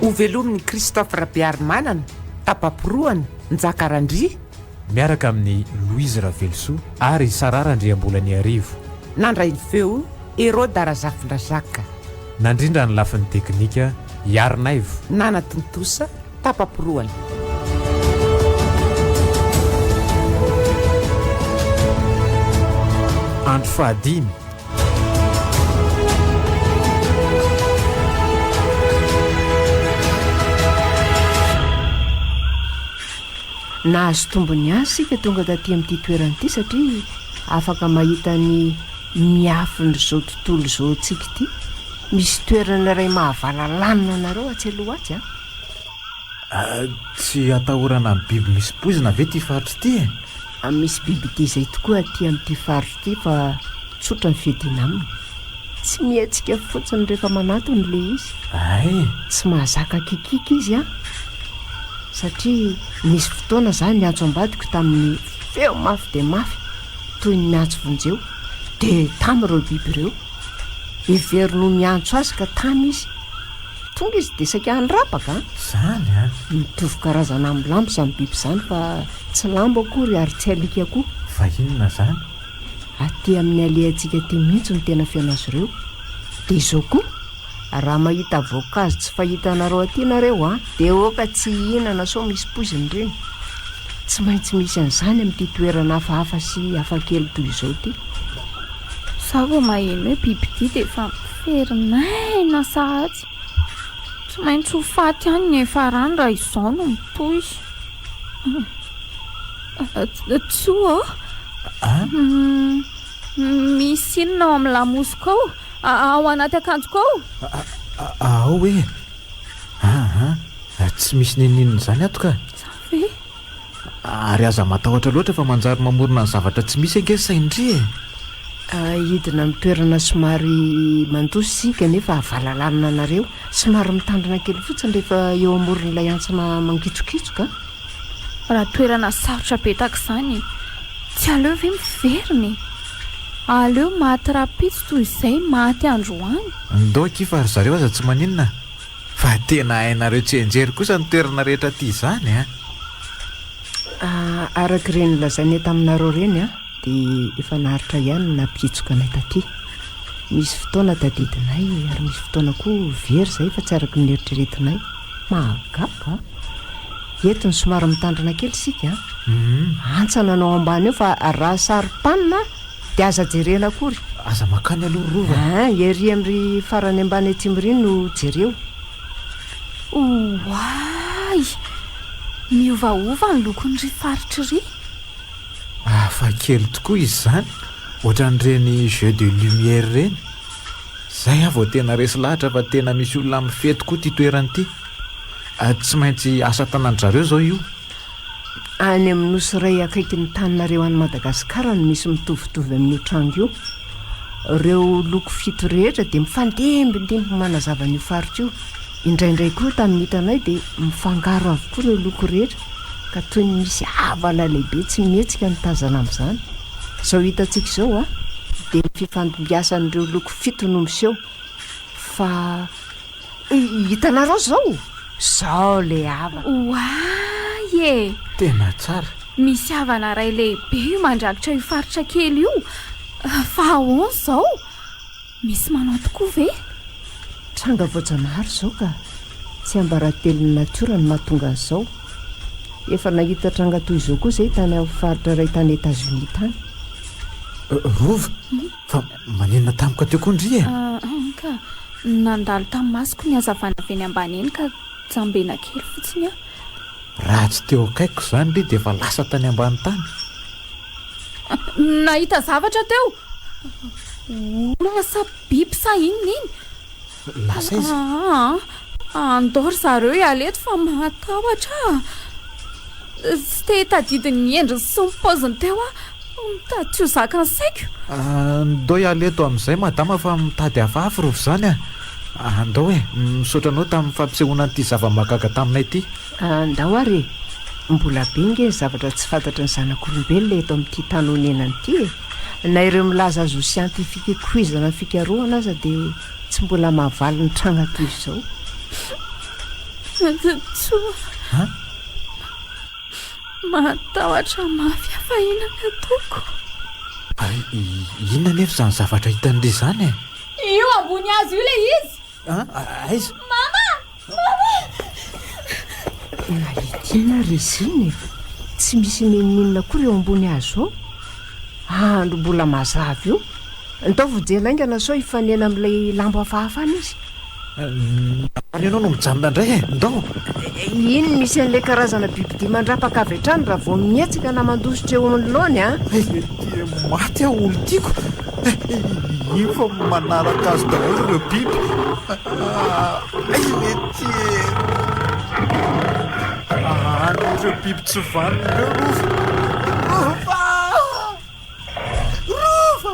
Ho velomin'i Christophe Rabearimanana, Tapaporohana, Njaka Randria. Miaraka amin'i Louise Ravelosoa ary Sarah Randriambolaniharivo. Nandray ny feo, Heroda Razafindrazaka. Nandrindra ny lafiny teknika, Iarinaivo. Nanatontosa, tapa-porohana. Andro fahadimy. Nahazo tombony azy isika tonga taty amin'ity toerana ity satria afaka mahita ny miafin'izao tontolo izao antsika ity. Misy toerana iray mahavalalanina anareo atsy aloha atsy a. Ah. Tsy atahorana amin'ny biby misy poizina ve ity faritra ity e? Misy biby dia izay tokoa aty amin'ity faritra ity fa tsotra ny fiadiana aminy. Tsy mihatsika fotsiny rehefa manatona ilay izy. Ay. Tsy mahazaka kikiky izy an. Satria nisy fotoana izaho niantso ambadiko tamin'ny feo mafy dia mafy toy ny miantso vonjeo. Dia tamy ireo biby ireo. Heveriny ho miantso azy ka tamy izy. Tonga izy dia saika hanirapa va? Izany an! Mitovy karazana amin'ny lambo izany biby izany fa tsy lambo akory ary tsy alika koa. Fa inona izany? Aty amin'ny alehantsika aty mihitsy no tena feno azy ireo. Dia izao koa, raha mahita voankazo tsy fahitanareo aty ianareo an, dia aoka tsy hihinana sao misy poiziny ireny. Tsy maintsy misy an'izany amin'ity toerana hafahafa sy hafakely toy izao ity. Izaho vao maheno hoe bibidia dia efa Very maina sahady. Tsy maintsy ho faty any ny efarany raha izao no mitohy. Tsoa ô? Misy inona ao amin'ny lamosiko ao? Ao anaty akanjoko ao? Ao e. Tsy misy n'inon'inona izany ato ka. Za ve? Ary aza matahotra loatra fa manjary mamorona ny zavatra tsy misy ange sain-dry e! Hidina amin'ny toerana somary mandosy isika nefa havalalanina anareo. Somary mitandrina kely fotsiny rehefa eo amoron'ilay antsana mangitsokitsoka. Raha toerana sarotra be tahaka izany e! Tsy aleo ve miverina e! Aleo maty rahampitso toy izay maty androany. Ndao akia fa ry zareo aza tsy maninona. Fa tena hainareo tsianjery kosa ny toerana rehetra aty izany an! Araka ireny lazainay taminareo ireny an, dia efa naharitra ihany ny nampihitsoka anay taty. Misy fotoana tadidinay ary misy fotoana koa very izay fa tsy araka ny neritreretinay. Mahagaga! Eto ny somary mitandrina kely isika an! Antsa nanao ambany eo fa raha saro-panina an! Dia aza jerena akory. Aza makany aloha ry Rova a. Ah, ery am ry farany ambany aty am ry no jereo. Oay! Miovaova ny lokon ry faritry ry. Hafa kely tokoa izy izany, ohatran ireny jeux de lumière ireny. Zay aho vao tena resy lahatra fa tena misy olona mifety koa ity toerana ity. Tsy maintsy asa tanan-dry zareo izao io. Any amin'ny nosy iray akaikin'ny taninareo any Madagasikara no misy mitovitovy amin'io tranga io. Ireo loko fito rehetra dia mifandimbidimbiny manazava an'io faritra io. Indraindray koa tamin'ny hitanay dia mifangaro avokoa ireo loko rehetra ka toy ny misy havana lehibe tsy mihetsika no tazana amin'izany. Izao hitantsika izao a, dia ny fifandimbiasan'ireo loko fito no miseho fa Hitanareo izao? Izao le havana. Oay e! Tena tsara. Misy havana iray lehibe mandrakitra io faritra kely io. Fa ahoana izao? Misy manao tokoa ve? Tranga voajanahary izao ka. Tsy ambaratelon'ny natiora no mahatonga an'izao. Efa nahita tranga toy izao koa izay tany amin'ny faritra iray tany Etazonia tany. Rova? Fa Manenina tampoka teo koa ndry e! Aahh ka! Nandalo tamin'ny masoko ny hazavana avy eny ambany eny ka jambena kely fotsiny aho. Raha tsy teo akaikiko izany ndry dia efa lasa tany ambany tany. Nahita zavatra teo! Olona sa biby sa inona iny? Lasa aiza? Aa, andao ry zareo hiala eto fa mahatahotra ah! Tsy te hitadidy ny endriny sy ny paoziny teo aho, mitady tsy ho zakan'ny saiko. Aa, ndao hiala eto amin'izay madama fa mitady hafahafa rovy izany ah! Aa, ndao e! Misaotra anao tamin'ny fampisehoana an'ity zava-mahagaga taminay ity. Aa, ndao ary e! Mbola be ange ny zavatra tsy fantatry ny zanak'olombelona eto amin'ity tany onenana ity e! Na ireo milaza azy ho siantifika ikoizana ny fikarohana aza dia. Tsy mbola mahavaly ny trano hatrizao. Fantatsoa fa mahatahotra mafy afa inona ny ataoko. Inona anefa izany zavatra hitan'ilay izany e? Io ambony hazo io ilay izy. Aiza? Mama! Na Etiana ary Rezina e. Tsy misy n'inon'inona akory eo ambony hazo ao. Andro mbola mazava io. Ntaovy hijery laingana sao hifanena amin'ilay lambo hafahafa any izy. Ary ianao no mijanona indray e. Ndao. Iny misy an'ilay karazana bibidia mandrapaka avy hatrany raha vao mihetsika na mandositra eo anoloany an. Ety maty aho olon-tiako. Iny fa manaraka azy daholo ireo biby. Ay lety e! Any ireo biby tsy vanona ireo rova. Rova! Rova!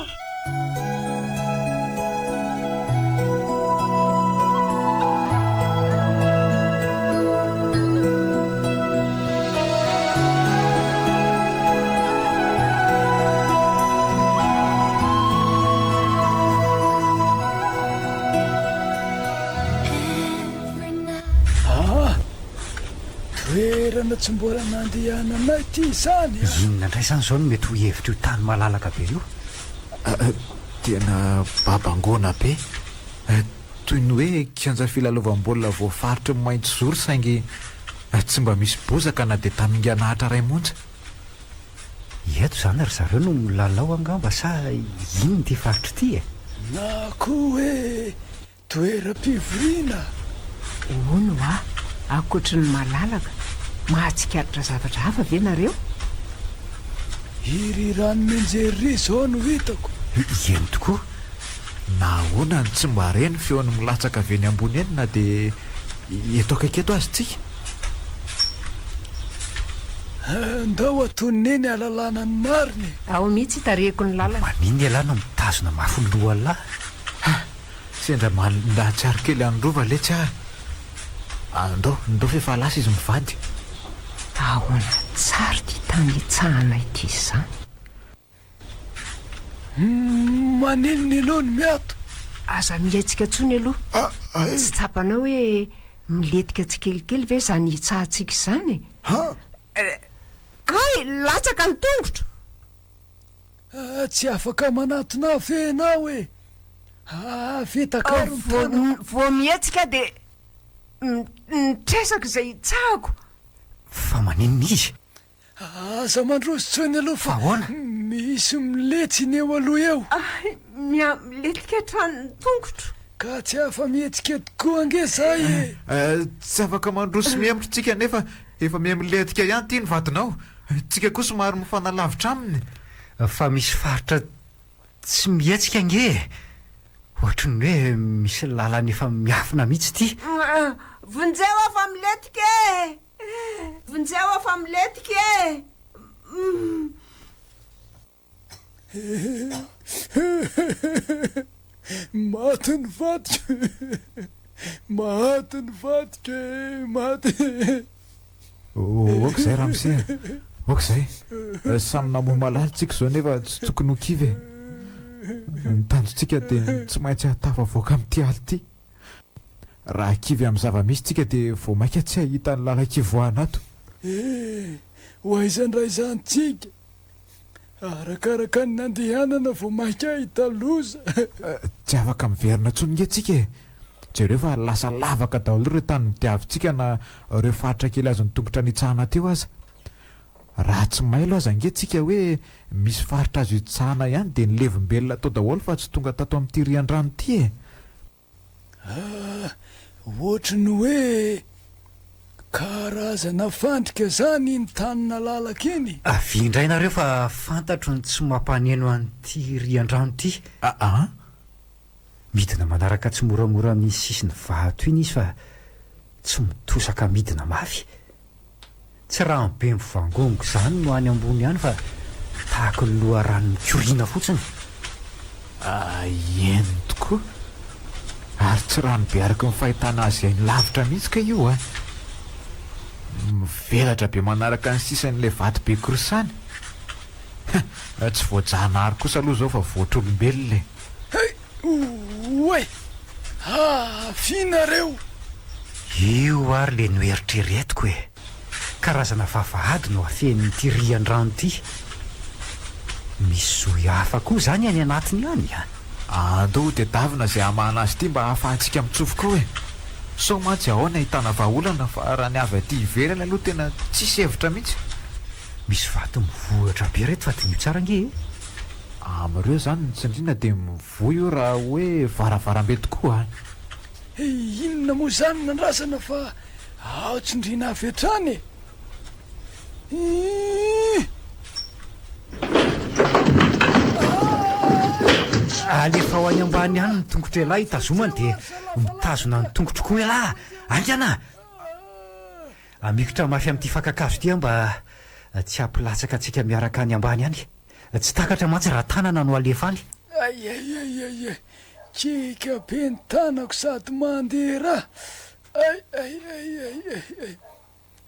toerana tsy mbola nandehananay ity izany a! Inona indray izany izao no mety ho hevitr'io tany malalaka be io? Tena babangoana be. Toy ny hoe kianja filalaovam-baolina voafaritry ny mahitsizoro saingy tsy mba misy bozaka na dia tamingana Atra iray monja. Eto izany ry zareo no milalao angamba sa inona ity faritra ity e? Na koa hoe Toeram-pivoriana, Hono hoa, ankoatry ny malalaka, mahatsikaritra zavatra hafa ve nareo? Iry Ranomenjery iry izao no hitako. Eny tokoa, na ahoana no tsy mba re ny feony milatsaka avy eny ambony eny na dia eto akaiky eto aza tsika? Andao hatonina eny hahalalana ny marina e! Ao mihitsy itarihiko ny lalana. Maninona ialahy no mitazona mafy ny loha lahy? Sendra mandahatsiaro kely an'i Rova letsy ary. Andao, andao f'efa lasa izy mivady. Ahoana tsara ity tany hitsahana ity izany? Maninona ianao no miato? Aza mihetsika intsony aloha. Tsy tsapanao hoe milentika tsikelikely ve izany hitsahantsika izany e? Hay! Latsaka ny tongotro! Aa tsy afaka manatona afe enao e! Aa afe takaro ny tanako. Vao mihetsika dia nitresaka izay hitsahako. Fa maninona izy? Aa aza mandroso intsony aloha fa misy miletsy ny eo aloha eo. Ahy miha-miletika hatrany ny tongotro. Ka tsy afa-mihetsika tokoa ange zay e! Tsy afaka mandroso mihemotro tsika nefa Efa miha milentika ihany ity ny vadinao. Tsika koa somary mifanalavitra aminy. Fa misy faritra tsy mihetsika ange e! Ohatry ny hoe misy lalana efa miafina mihitsy ity. Vonjeo aho fa milentika e! Vonjeo aho fa milentika e! Maty ny vadiko e! Maty ny vadiko e! Maty e! Ok zay ramose a! Ok zay! Samy namoha malala tsika izao nefa tsy tokony ho kivy e! Ny tanjontsika dia ny tsy maintsy hahatafavoaka amin'ity ala ity! Raha kivy amin'ny zava-misy tsika dia vao maika tsy hahita ny lalan-kivoahana ato! Eh! Ho aiza indray izany tsika? Arakaraka ny nandehanana vao maika ahita loza. Tsy afaka miverina intsony nge tsika e! Jereo fa lasa lavaka daholo ireo tany nodiavintsika na ireo faritra kely azon'ny tongotra nitsahana teo aza. Raha tsy mailo aza nge tsika hoe misy faritra azo itsahana ihany dia ny levim-belona tao daholo fa tsy tonga tato amin'ity riandrano ity e! Ah! Ohatry ny hoe karazana fandrika zany iny tany nalalaka iny. Avia indray nareo fa fantatro ny tsy mampaneno an'ity riandrano ity. Aa! Midina manaraka tsimoramora amin'ny sisin'ny vato iny izy fa tsy mitosaka midina mafy. Tsy rano be mivangongo izany no any ambony any fa tahaka ny loharano mikoriana fotsiny. Eny tokoa. Ary tsy rano be araka ny fahitana azy any lavitra mihitsy kay io an! Mivelatra be manaraka ny sisan'ilay vato be korsany. Tsy voajanahary kosa aloha izao fa voatr'olombelona e! Hey! Oay! Avia nareo! Io ary ilay noeritreretiko e! Karazana vavahady no afenin'ity rian-drano ity. Misy zohy hafa koa izany any anatiny any an! Andao tedavina izay hamahana azy ity mba hahafahantsika mitsofoka ao e! Sao mantsy ao no ahitana vahaolana fa raha ny avy aty ivelany aloha tena tsisy hevitra mihitsy. Misy vato mivohitra be ry reto fa diniho tsara ange e! Amin'ireo izany ny tsindriana dia mivoy io raha hoe varavarambe tokoa an! Hey, inona moa izany nandrasana fa ao tsindriana avy hatrany e! Hii! Alefao any ambany any ny tongotr'ialahy tazomany dia mitazona ny tongotro koa ialahy, aingana! Amikotra mafy amin'ity fakan-kazo ity aho mba tsy hampilatsaka antsika miaraka any ambany any. Tsy takatra mantsy raha tanana no alefa any. Aiaiaiaiai kiaka be ny tanako sady mandeha ra aiaiaiaiaiai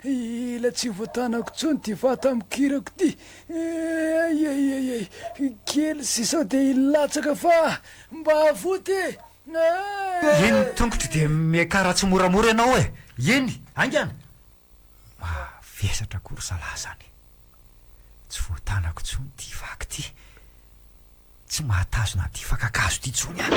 ila tsy voatanako tsony ty vata mikirako ty aiaiaiaiai kely sy sao dia hilatsaka fa mba avoty e ah. Eny ny tongotro dia miakara tsimoramora ianao e! Eny! Haingana! Mavesatra akory zalahy zany e! Tsy voatanako tsony ty vaky ty! Tsy mahatazona an'ty fakan-kazo ty tsony aho!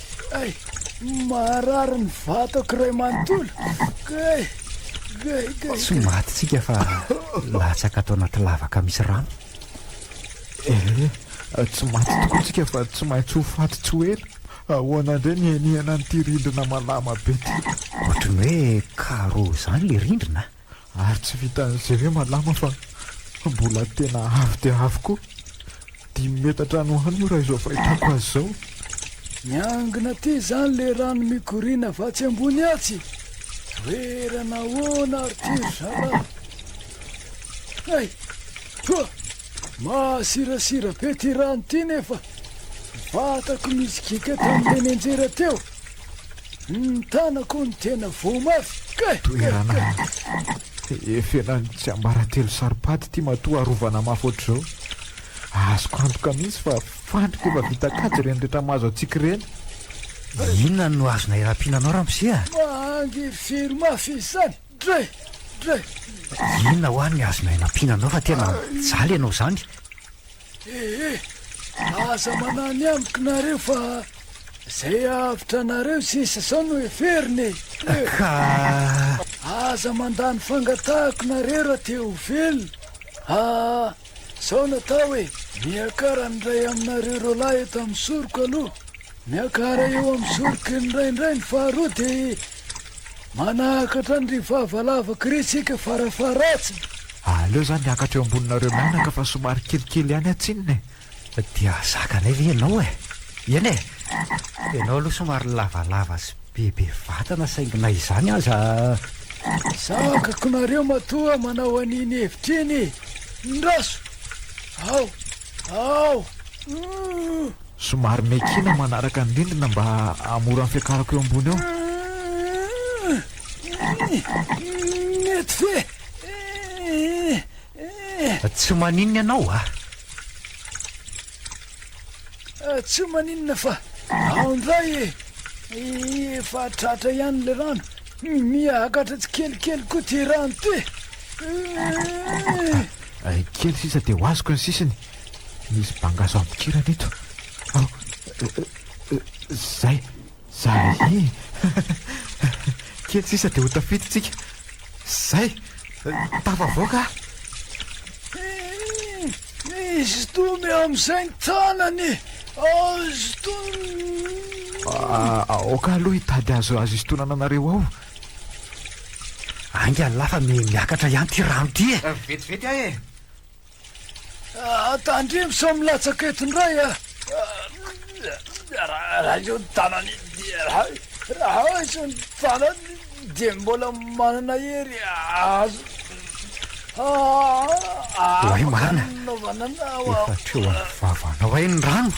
Kay, marary ny vatako iray manontolo. Kay, kay, kay. Tsy maty tsika fa latsaka ato anaty lavaka misy rano. Eh, tsy maty tokoa tsika fa tsy maintsy ho faty tsy ho ela. Ahoana indray ny henihana an'ity rindrina malama be ity? Ohatry ny hoe karo izany le rindrina. Ary tsy vitan'izay ve malama fa mbola tena avo dia avo koa. Dimy metatra any ho any io raha izao fahitako azy izao. Miangona aty izany ilay rano mikoriana avy atsy ambony atsy. Toerana ahoana ary ity ry zalahy? Hay! Hoa! Mahasirasira be ty rano ty nefa vatako misy gika tam tenenjera teo Ny tanako no tena voa mafy Kay! Toerana efenan'ny tsiambaratelo saro-paty ty matoa arovana mafy ohatr'izao Azoko antoka mihitsy fa fandrika efa vita kajy ireny rehetra mahazo antsika ireny Inona no azonay rapiana anao ramose a? Mahangy firy mafy izany? Inona hoa ny azonay nampiana anao fa tena mijaly ianao izany? Ehe, aza manany amiko nareo fa izay avotra anareo sisa izao no heverina e. Ka... Aza mandany fangatahako nareo raha te ho velona. Ah, izao natao e, miakara ny iray aminareo roalahy eto amin'ny soroko aloha. Miakara eo amin'ny soroko indraindray ny faharoa dia Manakatra ny ry vava lava kry tsika fara faratsiny. Aleo za miakatra eo amboninareo mianaka fa somary kelikely ihany aho tsinona e. Dia zakanay ve ianao e? Eny e! Ianao aloha somary lavalava sy bebe vatana saingy na izany aza. Zakako nareo matoa manao an'iny hevitra iny e! Indraso! Ao! Ao! Uuh! Somary miaikina manaraka ny rindrina mba hahamora ny fiakarako eo ambony eo. Mety ve? Tsy maninona ianao ah? Tsy maninona fa ao ndray e! Efa tratra ihany ilay rano. Miakatra tsikelikely koa ty rano ty. Ay kely sisa dia ho azoko ny sisiny. Misy bangaso ampikirana eto. Ao, zay, zay e. Kely sisa dia ho tafidintsika. Zay, tafavoaka. Misy domy amin'izay tanany. Azo tonana. Aoka aloha hitady azo azo isintonana anareo ao. Ainga lahy fa miha miakatra ihany ity rano ity e! Eh, vetivety ahy e! Ah, tandremo sao milatsaka eto indray a! Raha izao ny tanany raha izao ny tanany dia mbola manana hery azo Oay marina Efa treo amin'ny vavanao hay ny rano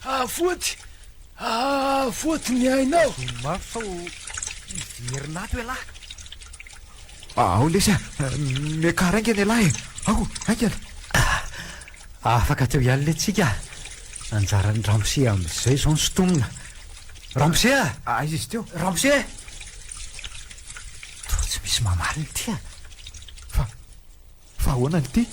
Afoty Aa foty ny ainao! Tadino mafy fa ho hiverina ato ialahy! Ao lesy a! Miakara haingana ialahy e! Ao, haingana! Afaka teo ihany le tsika a! Anjaran'i ramose amin'izay izao ny sintomina! Ramose a! Aiza izy teo? Ramose! Toa tsy misy mamaly ny tia! Fa ahoana ny tia?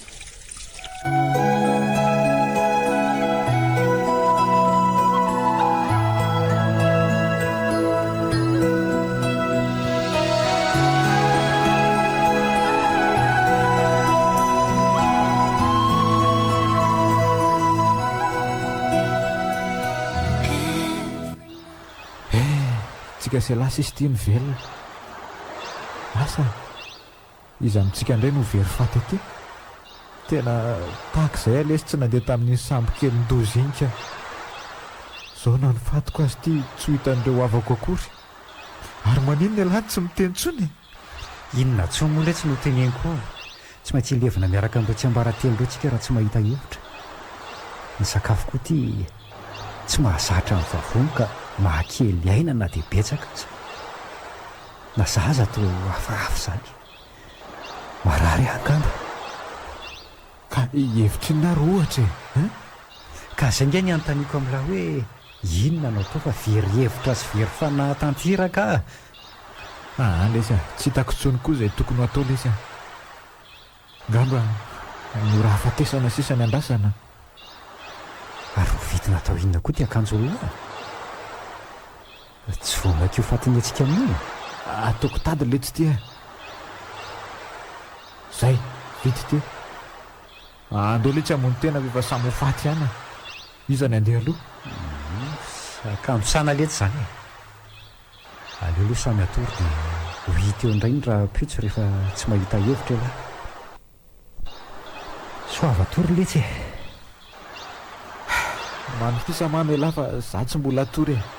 Eh, tsy kase lasa izy ity mivelona. Asa. Iza amintsika indray no very faty aty? Tena tahaka izay aho lesy tsy nandeha tamin'iny sambo kelin-doza iny ka. Izao na ny fatiko aza ity tsy ho hitan'ireo havako akory. Ary maninona ialahy no tsy miteny intsony e? Inona intsony moa letsy no teneniko ao? Tsy maintsy hilevina miaraka amin'ireo tsiambaratelo ireo tsika raha tsy mahita hevitra. Ny sakafo koa ity tsy mahazatra ny vavony ka mahakely aina na dia betsaka aza. Na za aza te ho hafahafa izany. Marary aho angamba. Ka hevitrinona ary ohatra e? Hein? Ka izay ange ny anontaniako amin'lah hoe inona no atao fa very hevitra sy very fanahy tanteraka aho. Aa lesy a! Tsy hitako intsony koa izay tokony ho atao lesy a! Ngamba mora ahafatesana sisa ny andrasana a! Ary ho vidy natao inona koa ity akanjo olona a! Tsy vao maika io fatin'ny hetsika amin'io e! Ataoko tady leitsy ity a! Zay, vita ity! Andao leitsy hamono tena ve fa samy ho faty ihany a! Iza ny handeha aloha? Akanjo sana leitsy izany e! Aleo aloha samy hatory dia ho hita eo indray ny rahampitso rehefa tsy mahita hevitra ialahy. Soava hatory letsy e! Manofisa mano ialahy fa za tsy mbola hatory e!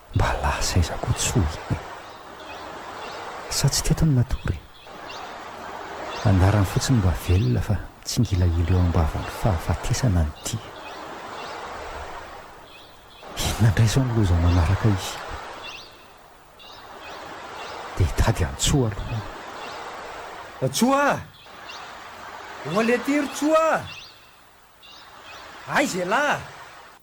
Mba lasa aiza koa tsy ho iny e? Sa tsy teto ny natory e? Anarany fotsiny mba velona fa tsingilahilo eo am-bavan'ny fahafatesana ny tia. Inona indray izao ny loza manaraka izy? Dia hitady an'i Tsoa aloha aho. Tsoa a! Ho aleha aty ry Tsoa a! Aiza ialahy a!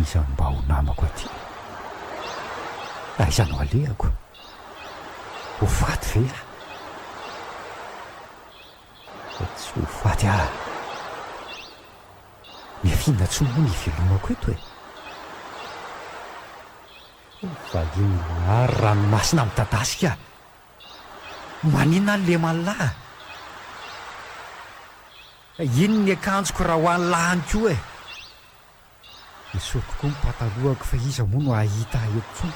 Iza mba ho namako aty? Aiza no alehako? Ho faty ve aho? Fa tsy ho faty aho! Miafina tsy moa ny hivelomako eto e! Valian'i Lahary ranomasina midadasika! Maninona ny leman'lah? Ka iny ny akanjoko raha ho an'ny lahany koa e! Esoriko koa ny patalohako fa iza moa no hahita ahy eto intsony?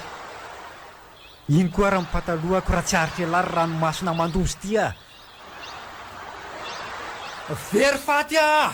Iny koa ary ny patalohako raha tsy aritr'elah ry ranomasina mandosy ity a! Very faty aho!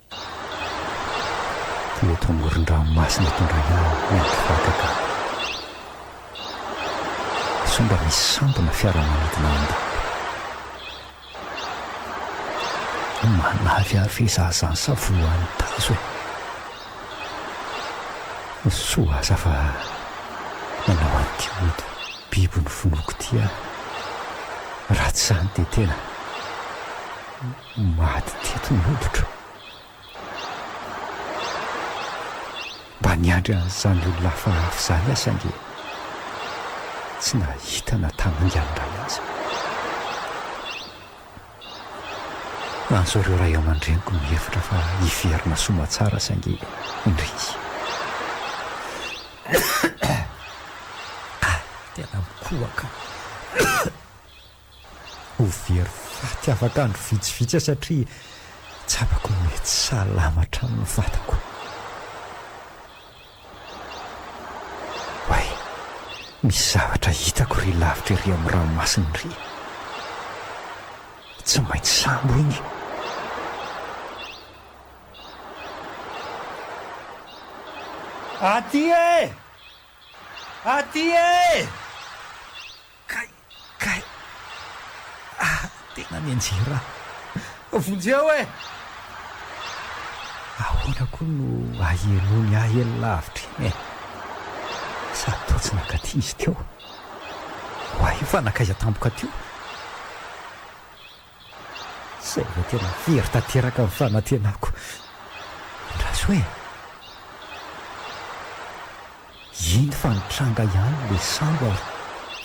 Teo eto amoron-dranomasina eto indray aho nandry vakaka. Sao mba misy sampona fiaramanidina ao an-dalam-be. Manavy ahy ve izaho izany sa voan'ny tazo e? Soa aza fa nanao an'ity ody biby novonoiko ity aho. Raha tsy izany dia tena. Maty teto ny hoditro. Mba niandry an'izany olona hafahafa izany aho saingy tsy nahita na tamin'ingana iray aza. Antso ireo ray aman-dreniko mihevitra fa hiverina soamantsara saingy indrisy. Tena mikohaka. Ho very faty afaka andro vitsivitsy aho satria tsapako mety salama hatrany ny vatako. Way! Misy zavatra hitako ry lavitra ery amin'ny ranomasina iry. Tsy maintsy sambo iny. Aty e! Aty e! Kay! Kay ah tena mianjera aho. Vonjeo e! Ahoana koa no ahialoany ahy eny lavitra eny e! Sady toa tsy nankaty izy teo. Oay io fa nankaiza tampoka teo? Izay vao tena very tanteraka ny fanantenako. Andraso e! Iny fa nitranga ihany le sambo ary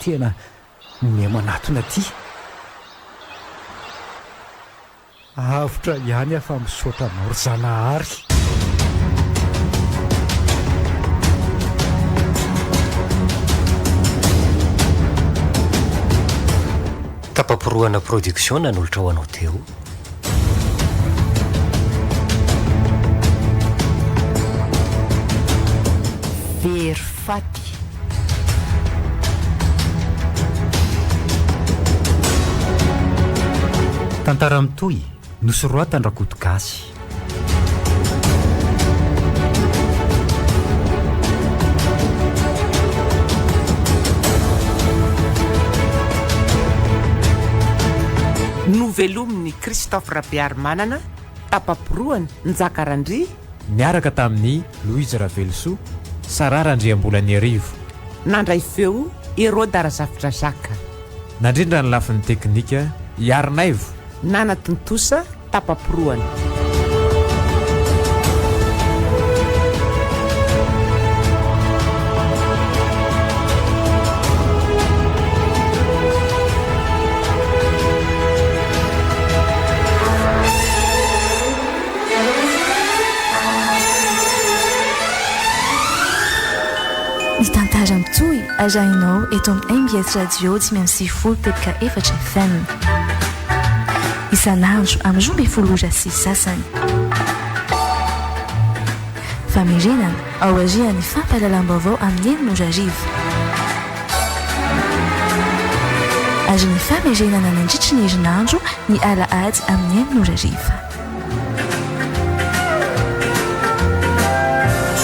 tena minia manatona aty. Avotra ihany aho fa misaotra anao ry Zanahary. Tapaporohana production nanolotra ho anao teo. Very faty. Tantara mitohy Nosoratan-dRakoto Gasy. Novelomin'i Christophe Rabearimanana, tapa-porohana, Njaka Randria. Niaraka tamin'i Louise Ravelosoa, Sarah Randriambolaniarivo. Nandray feo, Hérode Razafidrazaka. Nandrindra ny lafiny teknika, i Arinaivo. Nanatontosa tapa-porohana. Ny tantara mitohy arahinao eto amin'ny mbs radio dimy amby sivifolo teboka efatra FM. isan'andro amin'ny roa ambin'ny folo ora sy sasany. Famerenana aorian'ny fampahalalam-baovao amin'ny enina ora hariva. Ary ny famerenana nandritry ny herinandro ny alahady amin'ny enina ora hariva.